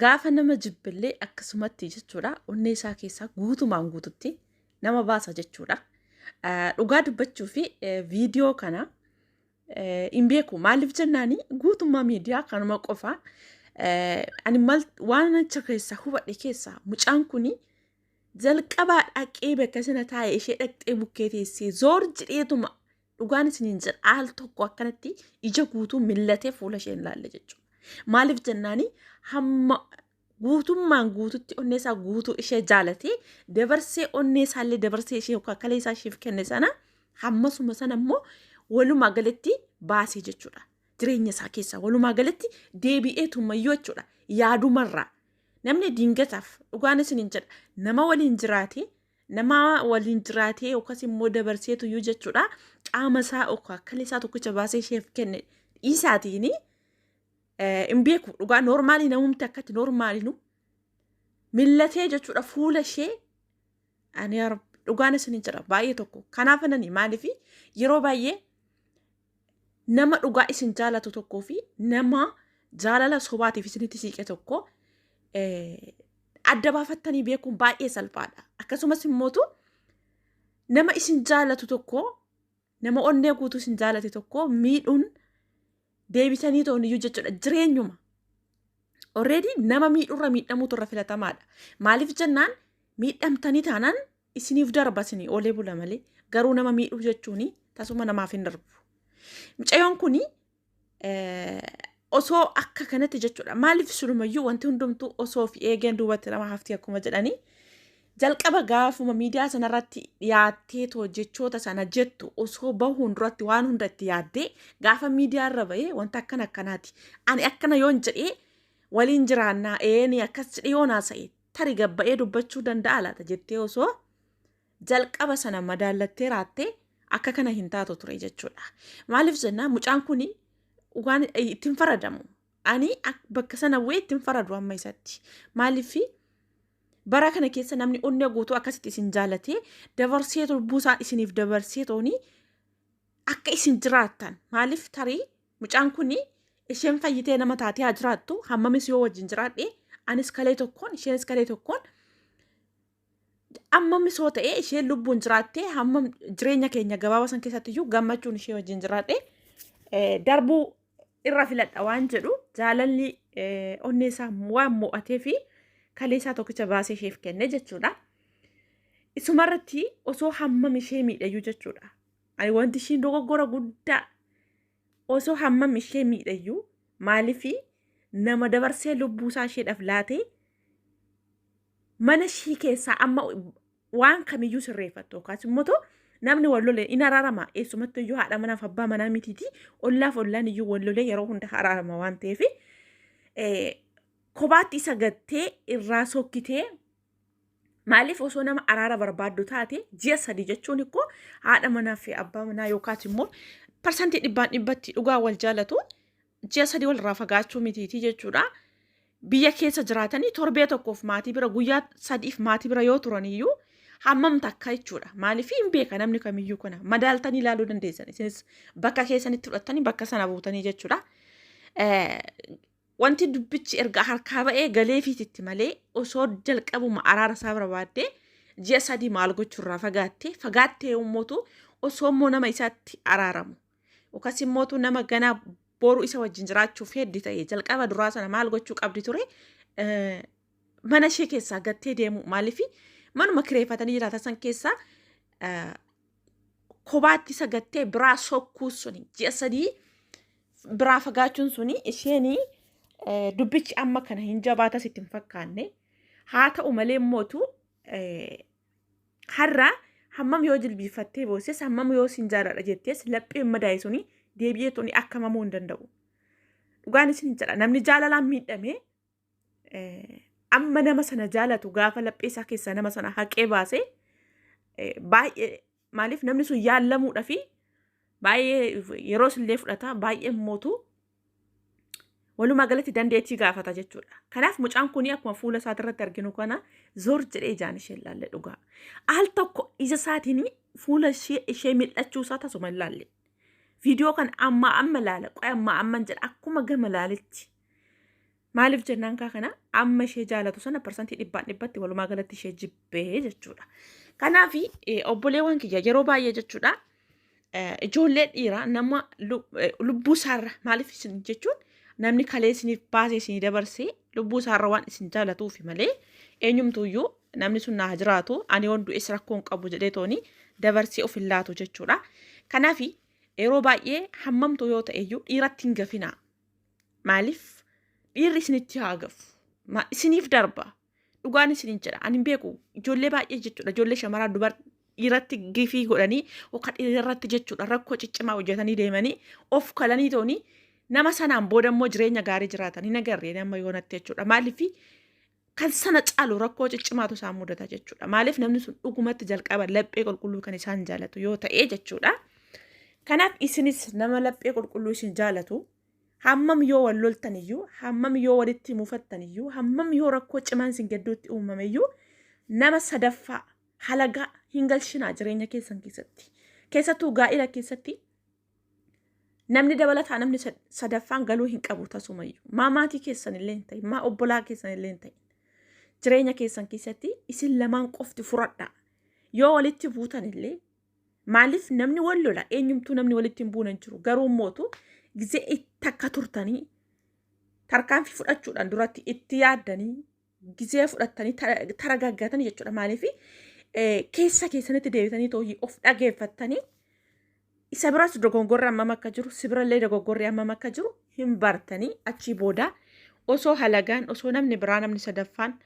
Gaafa nama jibbillee akkasumatti jechuudha onnee isaa keessaa guutumaan guututti nama baasa jechuudha. Eh, Dhugaa dubbachuu fi eh, viidiyoo kana eh, hin beeku maaliif jennaani guutummaa miidiyaa kanuma qofa eh, ani mal waan acha keessaa hubadhe keessaa mucaan kuni jalqabaa dhaqee bakka sana taa'e ishee dhaqxee bukkee teessee zoor jedheetuma Dhugaan isiniin jedha al tokko akkanatti ija guutuu millatee fuula ishee hin laalle jechuudha. Maaliif jennaani hamma guutummaan guututti onnee isaa guutuu ishee jaalatee dabarsee onnee isaallee dabarsee ishee yookaan kalee isaa isheef kenne sana hammasuma sana immoo walumaa galatti baasee jechuudha. Jireenya isaa keessaa walumaa galatti deebi'ee tummayyuu jechuudha. Yaadumarraa namni diingataaf dhugaan isiniin jedha nama waliin jiraatee nama waliin jiraatee yookaas immoo dabarseetu iyyuu jechuudha qaama isaa yookaan akkala isaa tokkicha baasee isheef kenne dhiisaatiin hin beeku dhugaa noormaalii namumti akkatti noormaalinu millatee jechuudha fuula ishee ani dhugaan isin hin jedha baay'ee tokko kanaaf anani maaliif yeroo baay'ee nama dhugaa isin jaalatu tokkoo fi nama jaalala sobaatiif isinitti siiqe tokko eh, adda baafattanii beekuun baay'ee salphaadha. Akkasumas immootu nama isin jaalatu tokko nama onnee guutuu isin jaalate tokko miidhuun deebisanii ta'uun iyyuu jechuudha jireenyuma. Already nama miidhurra miidhamuutu irra filatamaadha. Maaliif jennaan miidhamtanii taanaan Isiniif darba isinii oolee bula malee garuu nama miidhuu jechuun tasuma namaaf hin darbu. Mucayyoon kun osoo akka kanatti jechuudha maaliif silumayyuu wanti hundumtuu osoo fi eegeen duubatti nama hafti akkuma jedhanii jalqaba gaafuma miidiyaa sanarratti dhiyaattee too jechoota sana jettu osoo bahuun duratti waan hunda itti yaaddee gaafa miidiyaa irra bahee wanta akkana akkanaati ani akkana yoon jedhee waliin jiraannaa eeni akkas jedhee yoon haasa'e tari gabba'ee dubbachuu danda'a laata jettee osoo jalqaba sana madaallattee raattee akka kana hin taatu ture jechuudha. Maaliif jennaa mucaan kun waan ittiin faradamu. Ani bakka sana bu'ee ittiin faradu amma isatti. Maaliif bara kana keessa namni onnee guutuu akkasitti isin jaalatee dabarsee lubbuusaa isiniif dabarsee toonii akka isin jiraattan maaliif tarii Mucaan kun isheen fayyitee nama taatee haa jiraattu hammamis yoo wajjin jiraadhe anis kalee tokkoon isheenis kalee tokkoon ammamis yoo ta'e isheen lubbuun jiraattee hammam jireenya keenya gabaabaa san keessatti iyyuu gammachuun ishee wajjin jiraadhe darbuu irra filadha waan jedhu jaalalli onnee isaa waan mo'atee fi kalee isaa tokkicha baasee isheef kenne jechuudha. Isumarratti osoo hammam ishee miidhayyuu jechuudha. Ani wanti ishiin dogoggora guddaa osoo hammam ishee miidhayyuu maalifi nama dabarsee lubbuusaa isheedhaaf laatee mana ishii keessaa amma waan kamiyyuu sirreeffattu yookaas immoo too namni wal lolee in araarama eessumatti iyyuu haadha manaaf abbaa manaa mitiiti ollaaf ollaan iyyuu wal lolee yeroo hunda araarama waan ta'eef kophaatti isa gattee irraa sokkitee Maaliif osoo nama araara barbaaddu taate ji'a sadii jechuun ikkoo haadha manaa fi abbaa manaa yookaas immoo parsantii dhibbaan dhibbatti dhugaa wal jaalatu ji'a sadii walirraa fagaachuu mitiitii jechuudha. Biyya keessa jiraatanii torbee tokkoof maatii bira guyyaa sadiif maatii bira yoo turaniyyuu hammam takka jechuudha. Maaliif hin beeka namni kamiyyuu kana madaaltanii ilaaluu dandeessan isinis bakka keessanitti fudhattanii bakka sana buutanii jechuudha. Wanti dubbichi erga harkaa ba'ee galeefiititti malee osoo jalqabuma araara isaa barbaadde ji'a sadii maal gochuurraa fagaatte fagaattee ummootu osoo immoo nama isaatti araaramu yookas immootu nama ganaa boru isa wajjin jiraachuuf heddi ta'e jalqaba duraa sana maal gochuu qabdi ture Eh, mana ishee keessaa gattee deemu maaliifi manuma kireeffatanii jiraatan san keessaa eh, kobaatti isa gattee biraa sokkuu suni ji'a sadii biraa fagaachuun suni isheen dubbichi amma kana hin jabaatas itti hin fakkaanne haa ta'u malee immootu har'a hammam yoo jilbiifattee boosses hammam yoo sin jaaladha jettees lapheen madaa'e suni deebi'ee tuni akka mamuu hin danda'u. Dhugaan isin jedha namni jaalalaan miidhame amma nama sana jaalatu gaafa laphee isaa keessaa nama sana haqee baase baay'ee maaliif namni sun yaallamuudha fi baay'ee yeroos illee fudhata baay'ee mootu walumaa galatti dandeettii gaafata jechuudha. Kanaaf mucaan kun akkuma fuula isaati irratti arginu kana zoor jedhee ijaan ishee ilaalle dhugaa. Al tokko ija isaatiin fuula ishee mil'achuu isaa tasuma ilaalle. Viidiyoo kana amma amma ilaala qoy amma amma jedha akkuma gama ilaaletti. Maaliif jennaan kaa kana amma ishee jaalatu sana parsantii dhibbaan dhibbatti walumaa galatti ishee jibbee jechuudha. Kanaaf obboleewwan kiyya yeroo baay'ee jechuudha ijoollee dhiiraa nama lubbuu isaarra maaliif isin jechuun namni kalee isiniif baasee isinii dabarsee lubbuu isaarra waan isin jaalatuufi malee eenyumtuuyyuu namni sun naa jiraatu ani waan du'es rakkoo hin qabu jedhee tooni dabarsee of hin laatu jechuudha. Kanaaf yeroo baay'ee hammamtu yoo ta'eyyuu dhiiratti hin gafinaa. Maaliif dhiirri isinitti haa gafu? Ma- Isiniif darba. Dhugaan isiniin jedha. Ani hin beeku. Ijoollee baay'ee jechuudha. Ijoollee shamaraa dubar dhiiratti gifii godhanii yookaan dhiira irratti jechuudha rakkoo ciccimaa hojjetanii deemanii of kalanii toonii nama sanaan booda immoo jireenya gaarii jiraatan hin agarreen amma yoonatti jechuudha. Maaliif kan sana caalu rakkoo ciccimaatu isaan mudata jechuudha. Maaliif namni sun dhugumatti jalqaba laphee qulqulluu kan isaan jaalatu yoo ta'e jechuudha. Kanaaf isinis nama laphee qulqulluu isin jaalatu hammam yoo wal loltan iyyuu, hammam yoo walitti mufattan iyyuu, hammam yoo rakkoo cimaan isin gidduutti uumame iyyuu nama sadaffaa halagaa hin galchinaa jireenya keessan keessatti. Keessattuu gaa'ila keessatti Namni dabalataa namni sadaffaan galuu hin qabu tasumayyuu. Maa maatii keessan illee hin ta'in, maa obbolaa keessan illee hin ta'in. Jireenya keessan keessatti isin lamaan qofti furadha. Yoo walitti buutan illee maaliif namni wal lola eenyumtuu namni walitti hin buune hin jiru. Garuu mootu gisee itti akka turtanii tarkaanfii fudhachuudhaan duratti itti yaaddanii gizee fudhattanii taragaggatanii jechuudha maaliif keessa keessanitti deebitanii tooyyii of dhageeffattanii isa biras dogoggorri hammam akka jiru si birallee dogoggorri hammam akka jiru hin bartanii achii booda osoo halagaan osoo namni biraa namni sadaffaan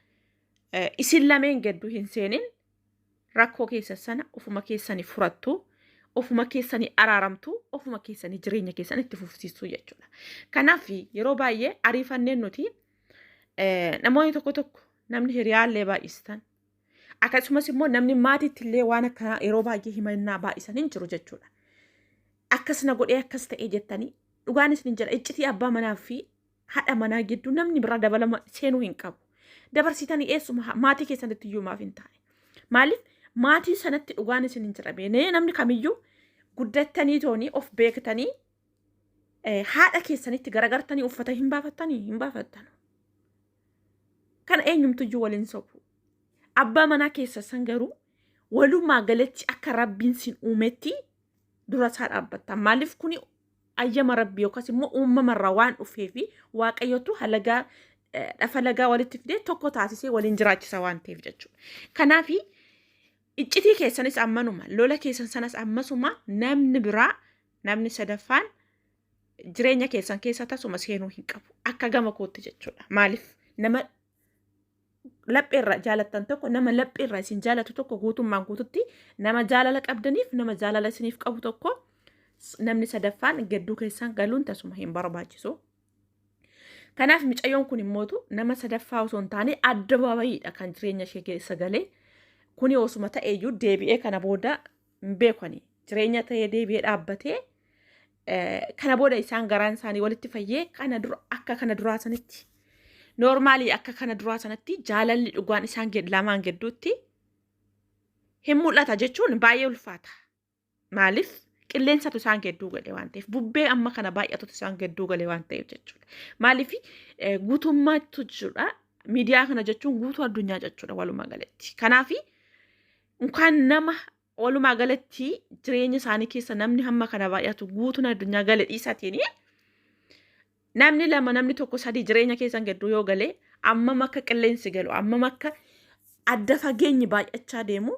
isin lameen gedduu hin seenin rakkoo keessa sana ofuma keessanii furattu ofuma keessanii araaramtu ofuma keessanii jireenya keessan itti fufsiisuu jechuudha. Kanaaf yeroo baay'ee ariifanneen nuti Eh, namoonni tokko tokko namni hiriyaallee baay'istan akkasumas immoo namni maatiitti illee waan akkanaa yeroo baay'ee himannaa baay'isan hin jiru jechuudha. Akkas na godhee akkas ta'e jettanii dhugaan isin jedha iccitii abbaa manaa fi haadha manaa gidduu namni biraa dabalama seenuu hin qabu. Dabarsitanii eessuma ha- maatii keessanitti iyyuu maaf hin taane. Maaliif maatii sanatti dhugaan isin hin jedhamee namni kamiyyuu guddattanii toonii of beektanii haadha keessanitti garagartanii uffata hin baafattanii hin baafattan. Kana eenyumtuyyuu waliin sobu. Abbaa manaa keessa san garuu walumaa galatti akka rabbiin sin uumetti dura isaa dhaabbattan. Maaliif kuni ayyama rabbi yookaas immoo uumamarraa waan dhufee fi waaqayyotu halagaa dhafa lagaa walitti fidee tokko taasisee waliin jiraachisa waan ta'eef jechuudha. Kanaaf iccitii keessanis ammanuma lola keessan sanas ammasuma namni biraa Namni sadaffaan jireenya keessan keessa tasuma seenuu hin qabu. Akka gama kootti jechuudha. Maaliif nama lapheerraa jaalattan tokko nama lapheerraa isin jaalatu tokko guutummaan guututti nama jaalala qabdaniif nama jaalala isiniif qabu tokko namni sadaffaan gadduu keessan galuun tasuma hin barbaachisu. Kanaaf micayyoon kun immootu nama sadaffaa osoo hin taane adda baabayiidha kan jireenya ishee keessa galee kuni osuma ta'eeyyuu deebi'ee kana booda hin beeku ani jireenya ta'ee deebi'ee dhaabbatee kana booda isaan garaan isaanii walitti fayyee kana dura akka kana duraa sanitti noormaalii akka kana duraa sanatti jaalalli dhugaan isaan gid- lamaan gidduutti hin mul'ata jechuun baay'ee ulfaata. Maaliif qilleensatu isaan gidduu gale waan ta'eef bubbee amma kana baay'atutu isaan gidduu gale waan ta'eef jechuudha. Maaliif eh, guutummaatu jechuudha miidiyaa kana jechuun guutuu addunyaa jechuudha walumaa galatti. Kanaafi Unkaan nama walumaa galatti jireenya isaanii keessa namni hamma kana baay'atu guutuun addunyaa gale dhiisatiin namni lama namni tokko sadii jireenya keessan gidduu yoo gale ammam akka qilleensi galu ammam akka adda fageenyi baay'achaa deemu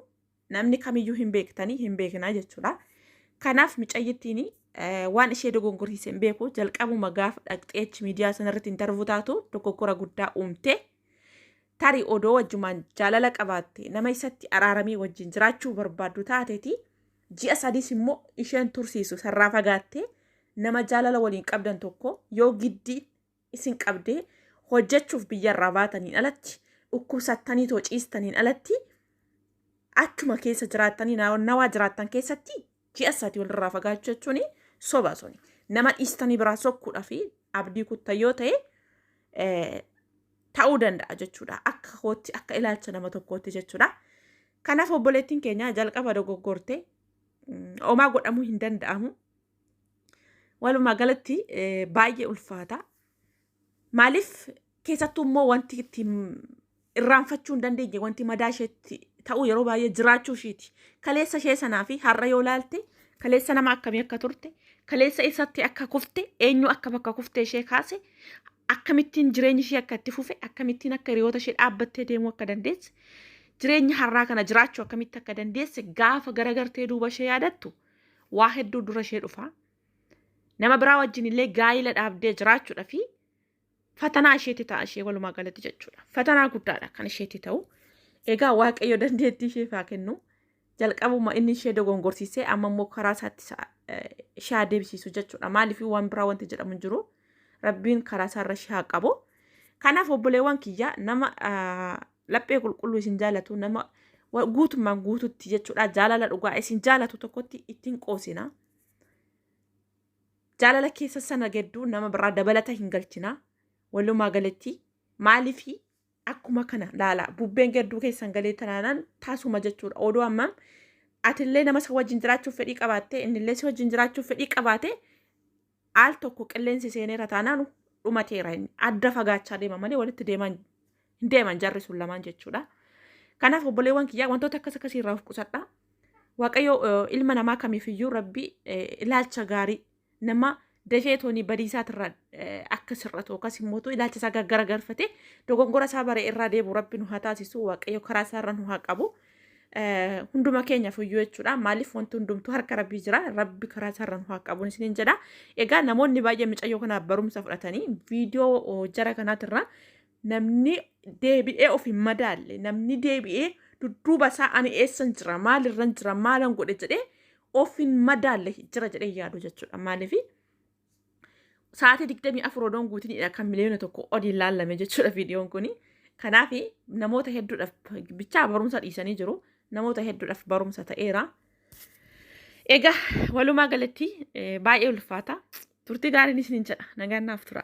namni kamiyyuu hin beektanii hin beeknaa jechuudha. Kanaaf micayyittiin waan ishee dogongorsiise hin beeku jalqabuma gaafa dhaqxee achi miidiyaa sanarratti hin darbu taatu dogoggora guddaa uumte. Tarii odoo wajjumaan jaalala qabaattee nama isatti araaramee wajjin jiraachuu barbaaddu taateti ji'a sadiis immoo isheen tursiisu sarraa fagaattee nama jaalala waliin qabdan tokko yoo giddi isin qabdee hojjechuuf biyyarraa baataniin alatti dhukkubsattanii too ciistaniin alatti achuma keessa jiraattanii na- nawaa jiraattan keessatti Ji'a sadi walirraa fagaachuu jechuun soba suni. Nama dhiistanii biraa sokkuudhaa fi abdii kutta yoo ta'e eh, ta'uu danda'a jechuudha. Akka kootti akka ilaalcha nama tokkootti jechuudha. Kanaaf obboleettiin keenya jalqaba dogoggorte mm, homaa godhamuu hin danda'amu. Walumaa galatti eh, baay'ee ulfaata. Maaliif keessattuu immoo wanti itti irraanfachuu hin dandeenye wanti madaa isheetti ta'uu yeroo baay'ee jiraachuu ishiiti. Kaleessa ishee sanaa fi har'a yoo laalte kaleessa nama akkamii akka turte kaleessa eessatti akka kufte eenyu akka bakka kufte ishee kaase akkamittiin jireenyi ishee akka itti fufe akkamittiin akka hiriyoota ishee dhaabbattee deemuu akka dandeesse jireenya har'aa kana jiraachuu akkamitti akka dandeesse gaafa garagartee duuba ishee yaadattu waa hedduu dura ishee dhufa. nama biraa wajjin illee gaa'ila dhaabdee jiraachuudha fi fatanaa isheetti ta'a ishee walumaa galatti jechuudha. Fatanaa guddaadha kan isheetti ta'u. Egaa waaqayyo dandeettii isheef haa kennu. Jalqabuma inni ishee dogongorsiisee amma immoo karaa isaatti ishee haa deebisiisu jechuudha. Maaliif waan biraa wanti jedhamu hin jiru. Rabbiin karaa isaarra ishee haa qabu. Kanaaf obboleewwan kiyya nama laphee qulqulluu isin jaalatu nama guutummaan guututti jechuudha jaalala dhugaa isin jaalatu tokkotti ittiin qoosina. jaalala keessa sana gedduu nama biraa dabalata hin galchina walumaa galatti maalifi akkuma kana laala bubbeen gedduu keessan galee tanaanan taasuma jechuudha oduu ammam atillee nama si wajjin jiraachuuf fedhii qabaatte innillee si wajjin jiraachuuf fedhii qabaate al tokko qilleensi seeneera taanaan dhumateera inni adda fagaachaa deema malee walitti deemaa hin deeman jarri sun lamaan jechuudha. Kanaaf obboleewwan kiyyaa wantoota akkas akkasii irraa of qusadha. Waaqayyo eh, ilma namaa kamiifiyyuu rabbi eh, ilaalcha gaarii nama dafee toonii badiisaatirraa eh, akka sirratu yookaas immoo ilaalcha isaa gaggaragarfatee dogongora isaa bare irraa deebi'u rabbi nu haa taasisu waaqayyo karaa isaa irra nu haa qabu. Eh, hunduma keenyaaf iyyuu jechuudha maaliif wanti hundumtuu harka rabbii jira rabbi karaa isaa irra nu haa qabu isiniin jedha egaa namoonni baay'ee micayyoo kanaaf barumsa fudhatanii viidiyoo oh, jara kanaatirraa Namni deebi'ee of hin madaalle, namni deebi'ee dudduuba isaa ani eessan jira, maalirran jira, maalan godhe jedhee of hin madaalle jira jedhee yaadu jechuudha. Maaliif sa'aatii digdamii afur odoon guutinidha kan miliyoona tokko oliin laallame jechuudha viidiyoon kuni. Kanaaf namoota hedduudhaaf bichaa barumsa dhiisanii jiru. Namoota hedduudhaaf barumsa ta'eera. Egaa walumaa galatti eh, baay'ee ulfaata. Turtii gaariin isiniin jedha. Nagaan naaf tura.